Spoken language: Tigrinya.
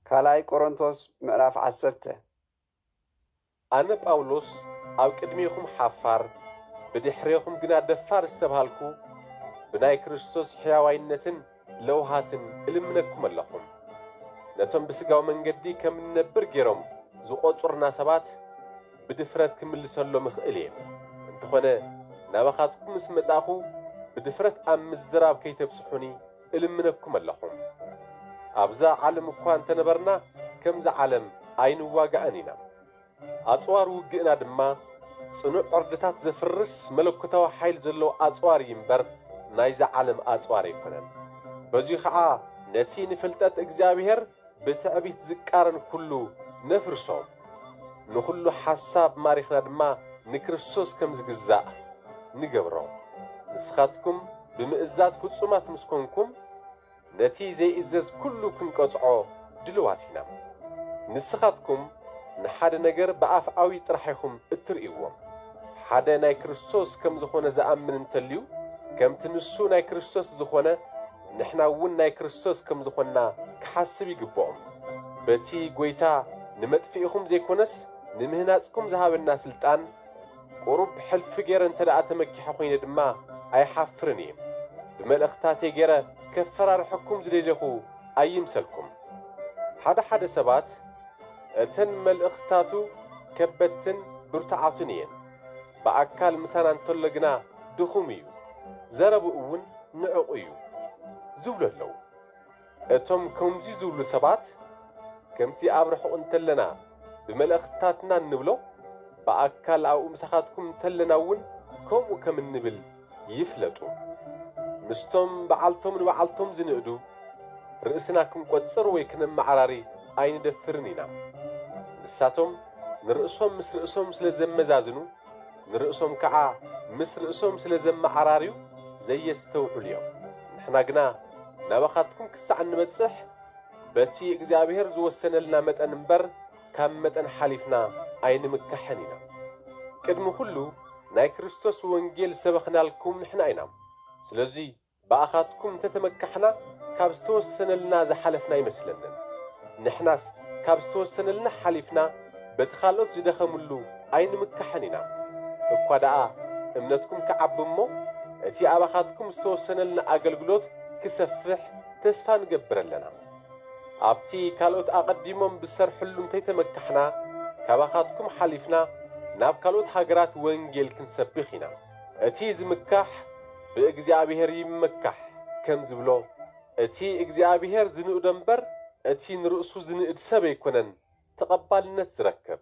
ካልኣይ ቆሮንቶስ ምዕራፍ ዓሰርተ። ኣነ ጳውሎስ ኣብ ቅድሜኹም ሓፋር፣ ብድሕሬኹም ግና ደፋር ዝተብሃልኩ፣ ብናይ ክርስቶስ ሕያዋይነትን ለውሃትን እልምነኩም ኣለኹም። ነቶም ብሥጋዊ መንገዲ ከም እንነብር ገይሮም ዝቖጽሩና ሰባት ብድፍረት ክምልሰሎም እኽእል እየ፣ እንተኾነ ናባኻትኩም ምስ መጻእኩ ብድፍረት ኣብ ምዝራብ ከይተብጽሑኒ፣ እልምነኩም ኣለኹም ኣብዛ ዓለም እኳ እንተነበርና ከምዛ ዓለም ኣይንዋጋእን ኢና ኣጽዋር ውግእና ድማ ጽኑዕ ዕርድታት ዘፍርስ መለኮታዊ ሓይል ዘለዎ ኣጽዋር እዩ እምበር ናይዛ ዓለም ኣጽዋር ኣይኮነን በዙይ ኸዓ ነቲ ንፍልጠት እግዚኣብሔር ብትዕቢት ዝቃረን ኩሉ ነፍርሶ፣ ንኹሉ ሓሳብ ማሪኽና ድማ ንክርስቶስ ከም ዝግዛእ ንገብሮ። ንስኻትኩም ብምእዛዝ ፍጹማት ምስ ኰንኩም፣ ነቲ ዘይእዘዝ ኩሉ ክንቀጽዖ ድልዋት ኢና። ንስኻትኩም ንሓደ ነገር ብኣፍኣዊ ጥራሕ ኢኹም እትርእይዎ። ሓደ ናይ ክርስቶስ ከም ዝዀነ ዝኣምን እንተልዩ፣ ከምቲ ንሱ ናይ ክርስቶስ ዝዀነ፣ ንሕና እውን ናይ ክርስቶስ ከም ዝኾንና ክሓስብ ይግብኦም። በቲ ጐይታ ንመጥፍኢኹም ዘይኮነስ ንምህናጽኩም ዝሃበና ስልጣን ቁሩብ ሕልፊ ገይረ እንተደኣ ተመኪሐ ኮይነ ድማ ኣይሓፍርን እየ። ብመልእኽትታተይ ገይረ ከፈራርሐኩም ዝደሌኹ ኣይምሰልኩም። ሓደ ሓደ ሰባት እተን መልእኽትታቱ ከበድትን ብርቱዓትን እየን። ብኣካል ምሳና እንተሎ ግና ድኹም እዩ፣ ዘረብኡ ውን ንዕቕ እዩ። ዝብሉ ኣለዉ። እቶም ከምዚ ዝብሉ ሰባት ከምቲ ኣብ ርሑቕ እንተለና ብመልእኽትታትና እንብሎ፣ ብኣካል ኣብኡ ምሳኻትኩም እንተለና ውን ከምኡ ከም እንብል ይፍለጡ ምስቶም ብዓልቶም ንብዓልቶም ዝንእዱ ርእስና ክንቆጽር ወይ ክነመዓራሪ ኣይንደፍርን ኢና ንሳቶም ንርእሶም ምስ ርእሶም ስለ ዘመዛዝኑ ንርእሶም ከኣ ምስ ርእሶም ስለ ዘመዓራርዩ ዘየስተውዕሉ እዮም ንሕና ግና ናባኻትኩም ክሳዕ እንበጽሕ በቲ እግዚኣብሔር ዝወሰነልና መጠን እምበር ካብ መጠን ሓሊፍና ኣይንምካሕን ኢና። ቅድሚ ኩሉ ናይ ክርስቶስ ወንጌል ዝሰበኽናልኩም ንሕና ኢና። ስለዙይ ብኣኻትኩም እንተተመካሕና ካብ ዝተወሰነልና ዝሓለፍና ኣይመስለንን። ንሕናስ ካብ ዝተወሰነልና ሓሊፍና በቲ ካልኦት ዝደኸምሉ ኣይንምካሕን ኢና። እኳ ደኣ እምነትኩም ክዓቢ እሞ እቲ ኣባኻትኩም ዝተወሰነልና ኣገልግሎት ክሰፍሕ ተስፋ ንገብር ኣለና። ኣብቲ ካልኦት ኣቐዲሞም ብዝሰርሕሉ እንተይተመካሕና፣ ካባኻትኩም ሓሊፍና ናብ ካልኦት ሃገራት ወንጌል ክንሰብኽ ኢና። እቲ ዝምካሕ ብእግዚኣብሔር ይመካሕ ከም ዝብሎ፣ እቲ እግዚኣብሔር ዝንእዶ እምበር እቲ ንርእሱ ዝንእድ ሰብ ኣይኮነን ተቐባልነት ዝረክብ።